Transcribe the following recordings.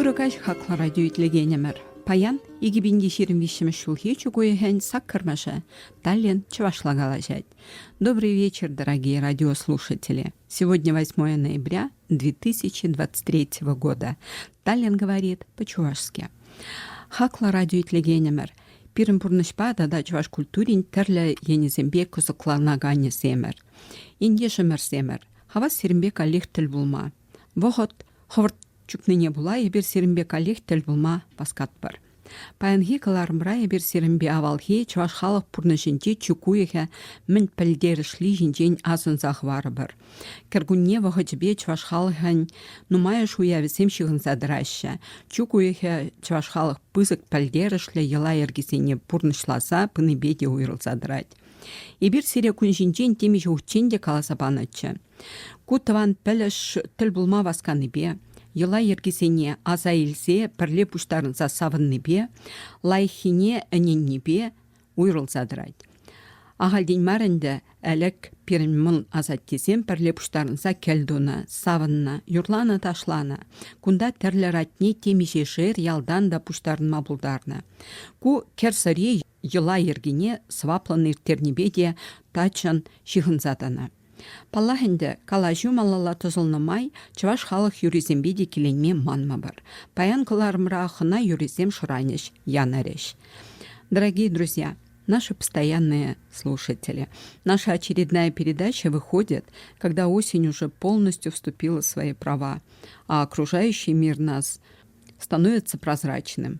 Ырӑ каҫ хаклӑ радио итлекенӗмӗр. Паян 2025 ҫулхи чук уйӑхӗн саккӑрмӑшӗ Таллин чӑвашла калаҫать. Добрый вечер, дорогие радиослушатели. Сегодня 8 ноября 2023 года. Таллин говорит по-чувашски. Хаклӑ радио итлекенӗмӗр, пирӗн пурнӑҫпа тата чӑваш культурин тӗрлӗ енӗсемпе кӑсӑкланаканӗсемӗр, ентешӗмӗрсемӗр, хавас сирӗнпе каллех тӗл пулма. Вӑхӑт хӑвӑрт чупнине пула эпир сирӗнпе каллех тӗл пулма васкатпӑр. Паянхи кӑларӑмра эпир сирӗнпе авалхи чӑваш халӑх пурнӑҫӗнчи чи уйӑхӗ мӗн пӗлтерӗшли ҫинчен асӑнса хӑварӑпӑр. Кӗркунне вӑхӑчӗпе чӑваш халӑхӗн нумайӑш уявӗсем ҫыхӑнса тӑраҫҫӗ. Чӳк уйӑхӗ чӑваш халӑх пысӑк пӗлтерӗшлӗ йӑла-йӗркисене пурнӑҫласа пынипе те уйрӑлса тӑрать. Эпир сире кун ҫинчен темиҫе хутчен те каласа панӑччӗ. Ку тӑван пӗлӗш тӗл пулма васканипе, йӑла-йӗркисене аса илсе пӗрле пуҫтарӑнса савӑннипе, лайӑххине ӗненнипе уйрӑлса тӑрать. Ахальтен мар ӗнтӗ ӗлӗк пирӗн мӑн асаттесем пӗрле пуҫтарӑнса кӗлтунӑ, савӑннӑ, юрланӑ-ташланӑ. Кунта тӗрлӗ ратне темиҫе шер ялтан та пуҫтарӑнма пултарнӑ. Ку кӗрсӑри йӑла йӗркине сӑваплӑн ирттернипе те таччӑн ҫыхӑнса тӑнӑ. Паллах ӗнтӗ, калаҫу малалла тӑсӑлнӑ май чӑваш халӑх юррисемпе те киленме манмӑпӑр. Паян кӑларӑмра хӑна юррисем шӑранӗҫ, янӑрӗҫ. Дорогие друзья, наши постоянные слушатели, наша очередная передача выходит, когда осень уже полностью вступила в свои права, а окружающий мир нас становится прозрачным.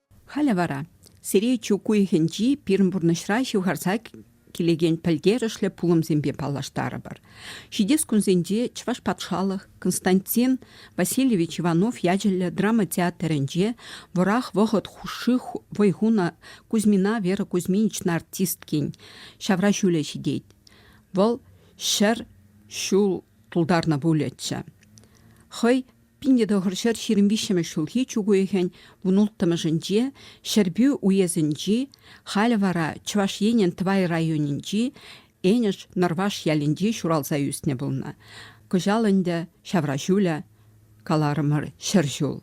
Халӗ вара сире чӳк уйӑхӗнчи пирӗн пурнӑҫра ҫывхарса килекен пӗлтерӗшлӗ пулӑмсемпе паллаштарӑпӑр. Ҫитес кунсенче Чӑваш патшалӑх Константин Васильевич Иванов ячӗллӗ драма театрӗнче вӑрах вӑхӑт хушши вӑй хунӑ Кузьмина Вера Кузьминична артисткин ҫавра ҫулӗ ҫитет. Вӑл ҫӗр ҫул тултарнӑ пулӗччӗ. Хӑй Пинте тӑхӑр ҫӗр ҫирӗм виҫҫӗмӗш ҫулхи чӳк уйӑхӗн вунулттӑмӗшӗнче Ҫӗрпӳ уесӗнчи, халӗ вара Чӑваш Енӗн Тӑвай районӗнчи Энӗш Нӑрваш ялӗнче ҫуралса ӳснӗ пулнӑ. Кӑҫал ӗнтӗ ҫавраҫулӗ, каларӑмӑр, ҫӗр ҫул.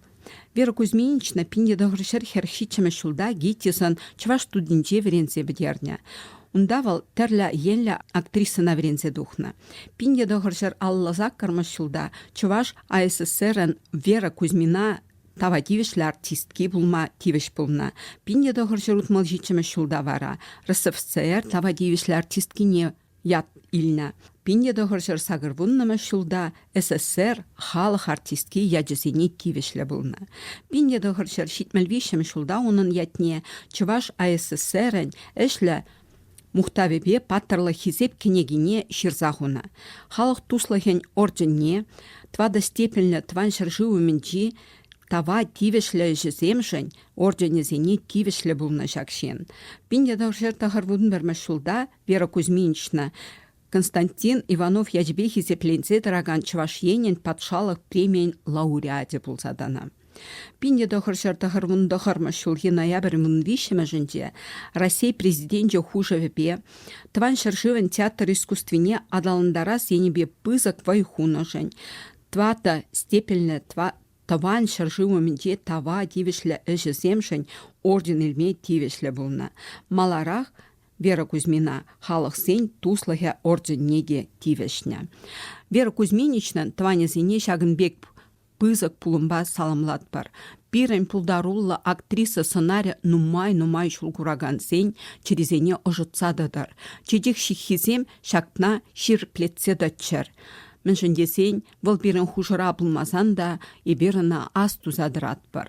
Вера Кузьминична пинте тӑхӑр ҫӗр хӗрӗх ҫиччӗмӗш ҫулта ГИТИСӑн чӑваш студинче вӗренсе пӗтернӗ. Унта вӑл тӗрлӗ енлӗ актрисӑна вӗренсе тухнӑ. Пин тӑхӑр ҫӗр аллӑ саккӑрмӗш ҫулта Чӑваш АССРӗн Вера Кузьмина тава тивӗҫлӗ артистки пулма тивӗҫ пулнӑ. Пин тӑхӑр ҫӗр утмӑл ҫиччӗмӗш ҫулта вара РСФСР тава тивӗҫлӗ артисткине ят илнӗ. Пин тӑхӑр ҫӗр сакӑрвуннӑмӗш ҫулта СССР халӑх артистки ячӗсене тивӗҫлӗ пулнӑ. Пинне тӑхӑр ҫӗр ҫитмӗл виҫҫӗмӗш ҫулта унӑн ятне Чӑваш АССРӗн ӗҫлӗ мухтавӗпе паттӑрлӑх Хисеп кӗнекине ҫырса хунӑ. Халӑх туслӑхӗн орденне тӑватӑ степеньлӗ тӑван ҫӗршыв умӗнчи тава тивӗҫлӗ ӗҫӗсемшӗн орденӗсене тивӗҫлӗ пулнӑ ҫак ҫын. Пинне тӑхӑр ҫӗр тӑхӑр вунпӗрмӗш ҫулта Вера Кузьминична Константин Иванов ячӗпе хисепленсе тӑракан Чӑваш Енӗн патшалӑх премийӗн лауреачӗ пулса тӑнӑ. Пинне тӑхӑр ҫӗр тӑхӑрмун тӑхӑрмӗш ҫулхи ноябрь мун виҫҫӗмӗшӗнче Раҫҫей Президенчӗ хушӑвӗпе Тӑван ҫӗршывӑн театр искусствине аталантарас енӗпе пысӑк вӑй хунӑшӑн тӑватӑ степеньлӗ Тӑван ҫӗршыв умӗнче тава тивӗҫлӗ ӗҫӗсемшӗн орден илме тивӗҫлӗ пулнӑ. Маларах Вера Кузьмина халӑхсен туслӑхӗ орденне те тивӗҫнӗ. Вера Кузьминичнан тӑванӗсене ҫакӑн пек пысӑк пулӑмпа саламлатпӑр. Пирӗн пултаруллӑ актриса сӑнарӗ нумай-нумай ҫул куракансен чӗрисене ӑшӑтса тӑтӑр. Чечек ҫыххисем ҫакна ҫирӗплетсе тӑччӑр. Мӗншӗн тесен вӑл пирӗн хушӑра пулмасан та эпир ӑна ас туса тӑратпӑр.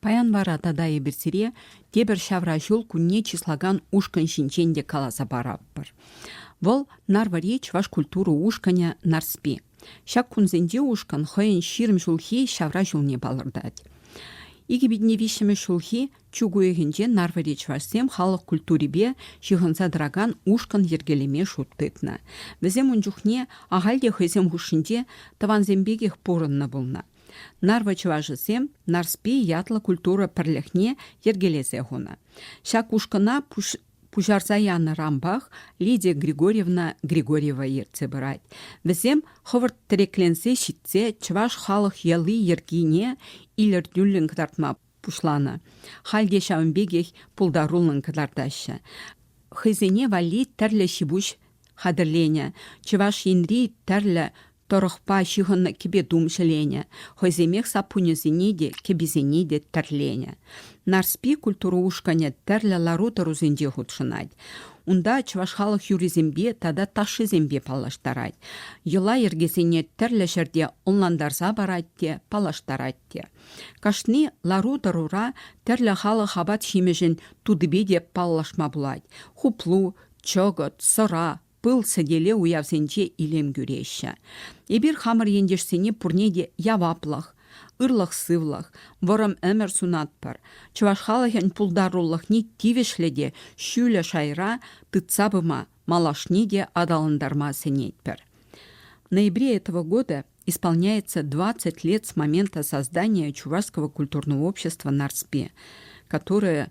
Паян вара тата эпир сире тепӗр ҫавра ҫул кунне чыслакан ушкӑн ҫинчен те каласа паратпӑр. Вӑл Нарвӑри чӑваш культура ушкӑнӗ Нарспи. Ҫак кунсенче ушкӑн хӑйӗн ҫирӗм ҫулхи ҫавра ҫулне палӑртать. Икӗ питне виҫҫӗмӗш ҫулхи чӳк уйӑхӗнче Нарвӑри чӑвашсем халӑх культурипе ҫыхӑнса тӑракан ушкӑн йӗркелеме шут тытнӑ. Вӗсем ун чухне ахаль те хӑйсем хушшинче тӑвансем пекех пурӑннӑ пулнӑ. Нарвӑ чӑвашӗсем Нарспи ятлӑ культура пӗрлӗхне йӗркелесе хунӑ. Ҫак ушкӑна пуҫарса янӑ рампах Лидия Григорьевна Григорьева ертсе пырать. Вӗсем хӑвӑрт тӗрекленсе ҫитсе чӑваш халӑх йӑли-йӗркине илӗртӳллӗн кӑтартма пуҫланӑ. Халь те ҫавӑн пекех пултаруллӑн кӑтартаҫҫӗ. Хӑйсене валли тӗрлӗ ҫипуҫ хатӗрленӗ. Чӑваш Енри тӗрлӗ тӑрӑхпа ҫыхӑннӑ кӗпе-тум ҫӗленӗ, хӑйсемех саппунӗсене те, кӗписене те тӗрленӗ. Нарспи культура ушкӑнӗ тӗрлӗ лару-тӑрусенче хутшӑнать. Унта чӑваш халӑх юррисемпе тата ташшисемпе паллаштарать, йӑла-йӗркесене тӗрлӗ ҫӗрте ӑнлантарса парать те, паллаштарать те. Кашни лару-тӑрура тӗрлӗ халӑх апат-ҫимӗҫӗн тутипе те паллашма пулать. Хуплу, чӑкӑт, сӑра, пыл сӗтеле уявсенче илем кӳреҫҫӗ. Эпир хамӑр ентешсене пурне те яваплӑх, ырлӑх-сывлӑх, вӑрӑм ӗмӗр сунатпӑр, чӑваш халӑхӗн пултарулӑхне тивӗҫлӗ те ҫӳлӗ шайра тытса пыма, малашне те аталантарма сӗнетпӗр. В ноябре этого года исполняется 20 лет с момента создания Чувашского культурного общества «Нарспи», которое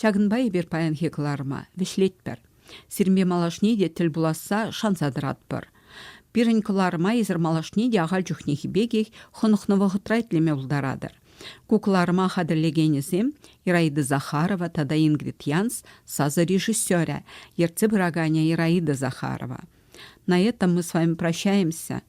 Ҫакӑнпа эпир паянхи кӑларӑма вӗҫлетпӗр. Сирме малашне те тӗл пуласса шанса тӑратпӑр. Пирӗн кӑларӑма эсир малашне те ахаль чухнехи пекех хӑнӑхнӑ вӑхӑтра итлеме пултаратӑр. Ку кӑларӑма хатӗрлекенӗсем Ираида Захарова тата Ингрид Янс сасӑ режиссерӗ, ертсе пыраканӗ Ираида Захарова. На этом мы с вами прощаемся.